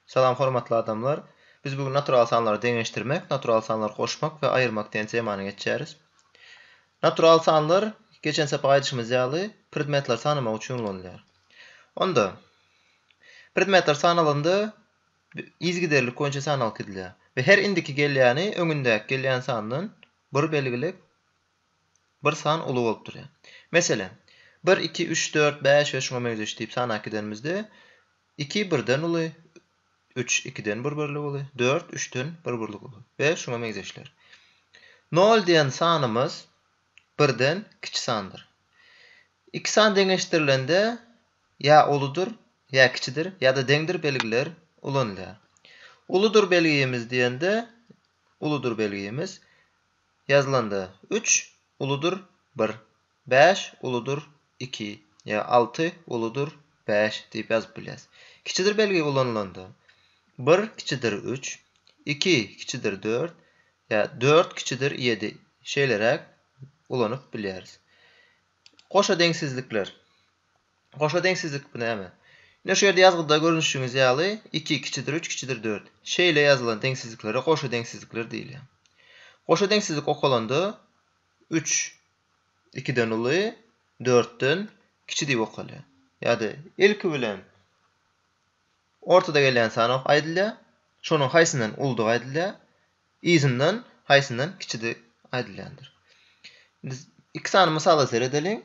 Salam hormatly adamlar. Biz bu gün natural sanlary deňeşdirmek, natural sanlary goşmak we aýyrmak diýen temany geçýäris. Natural sanlar geçen sapak aýdyşymyz ýaly predmetleri sanamak üçin ulanylýar. Onda predmetler sanalanda yzgiderlik boýunça san alkydylýar we her indiki gelýäni öňündäki gelýän sandan bir belgilik bir san uly bolup durýar. Meselem, bir, iki, üç, dört, bäş we şuňa meňzeş diýip sanap gidenimizde, iki birden uly, üç ikiden bir birlik uly, dört üçden bir birlik uly we şuňa meňzeşler. Nol diýen sanymyz birden kiçi sandyr. Iki san deňeşdirilende ýa uludyr, ýa kiçidir ýa-da deňdir belgiler ulanylýar. Uludyr belgimiz diýende, uludyr belgimiz ýazylanda, üç uludyr bir, bäş uludyr iki ýa alty uludyr bäş diýip ýazyp bilýäs. Kiçidir belgi ulanylanda, bir kiçidir üç, iki kiçidir dört ýa dört kiçidir ýedi şeýleräk ulanyp bilýäris. Goşa deňsizlikler. Goşa deňsizlik bu näme? Ine şu ýerde ýazgyda görnüşiňiz ýaly iki kiçidir üç kiçidir dört. Şeýle ýazylan deňsizliklere goşa deňsizlikler diýilýär. Goşa deňsizlik okalanda üç ikiden uly, dörtden kiçi diýip okalýar. Ýa-da ilki bilen ortada gelýän sanok aýdylýar, şonuň haýsyndan uludygy aýdylýar, Yzyndan haýsyndan kiçidi aýdylýandyr. Indi iki sany mysala seredeliň.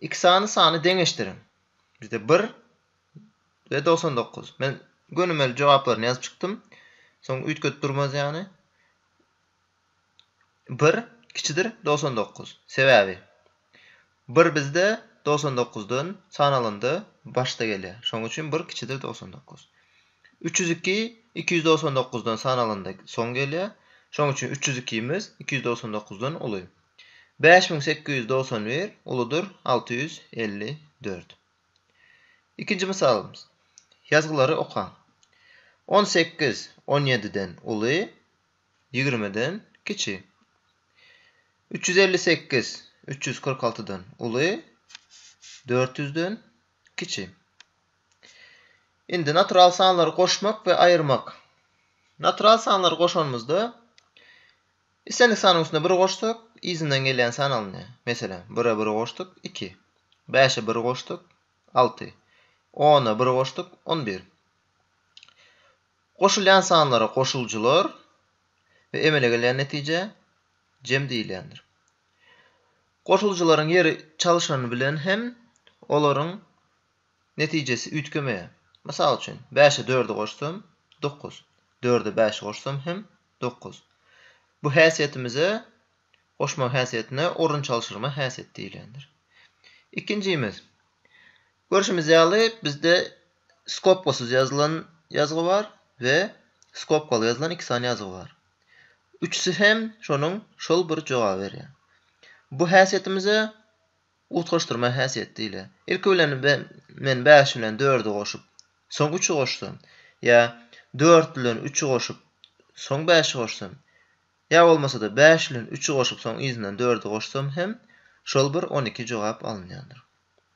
İki sany sany deňeşdiriň. Bizde bir we togsan dokuz. Men gönümel jogaplaryny ýazyp çykdym. Soň üýtgedip durmaz ýany. Bir kiçidir dogsan dokuz. Sebäbi bir bizde dogsan dokuzdan sanalanda başda gelýär. Şonuň üçin bir kiçidir dogsan dokuz. Üç ýüz iki iki ýüz dogsan dokuzdan sanalanda soň gelýär. Şonuň üçin üç ýüz ikimiz iki ýüz dogsan dokuzdan uly. Bäş müň sekiz ýüz dogsan bir uludyr alty ýüz elli dört. Ikinji mysalymyz. Ýazgylary okaň. On sekiz on ýediden uly, ýigrimiden kiçi. Üç ýüz elli sekiz üç ýüz kyrk altydan uly, dört ýüzden kiçi. Indi natural sanlary goşmak we aýyrmak. Natural sanlary goşanymyzda islendik sanyň üstüne bir goşsak, yzyndan gelýän san alynýar. Meselem, bire bir goşduk, iki. Bäşe bir goşduk, alty. Ona bir goşduk, on bir. Goşulýan sanlara goşuljylar we emele gelýän netijä jem diýilýändir. Goşuljylaryň ýeri çalyşany bilen hem olaryň netijesi üýtgemeýär. Mysal üçin, bäşe dördi goşsam, dokuz, dörde bäşi goşsam hem dokuz. Bu häsiýetimize, goşma häsiýetine orun çalşyrma häsiýeti diýilýändir. Ikinjimiz, görşümiz ýaly, bizde Skobkasyz ýazylan ýazgy bar we skobkaly ýazylan iki sany ýazgy bar. Üçüsi hem şonuň şol bir jogaby berýär. Bu häsiýetimize utgaşdyrma häsiýeti diýilýär. Ilki bilen men bäş bilen dördi goşup, soň üçi goşsam, ýa dört bilen üçi goşup, soň bäşi goşsam, ýa bolmasa-da bäş bilen üçi goşup, soň yzyndan dördi goşsam hem şol bir on iki jogap alynýandyr.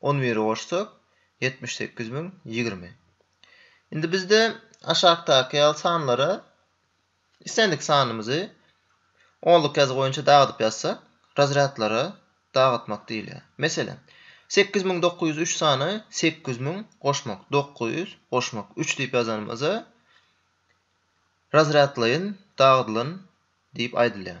On biri goşsak, ýetmiş sekiz müň ýigrimi. Indi bizde aşakdaky ýaly sanlara islendik sanymyzy onluk ýazgy boýunça dagydyp ýazsak, razrýadlara dagytmak diýilýär. Meselem, sekiz müň dokuz ýüz üç sany sekiz müň goşmak dokuz ýüz goşmak üç diýip ýazanymyza razrýadlaýyn dagydylan diýip aýdylýar.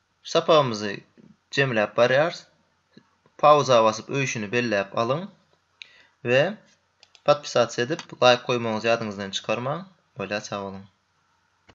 Sapagymyzy jemläp barýarys. Pauza basyp öýşüni belläp alyň we podpisats edip laýk goýmagyňyzy ýadyňyzdan çykarmaň. Bolýar sag boluň.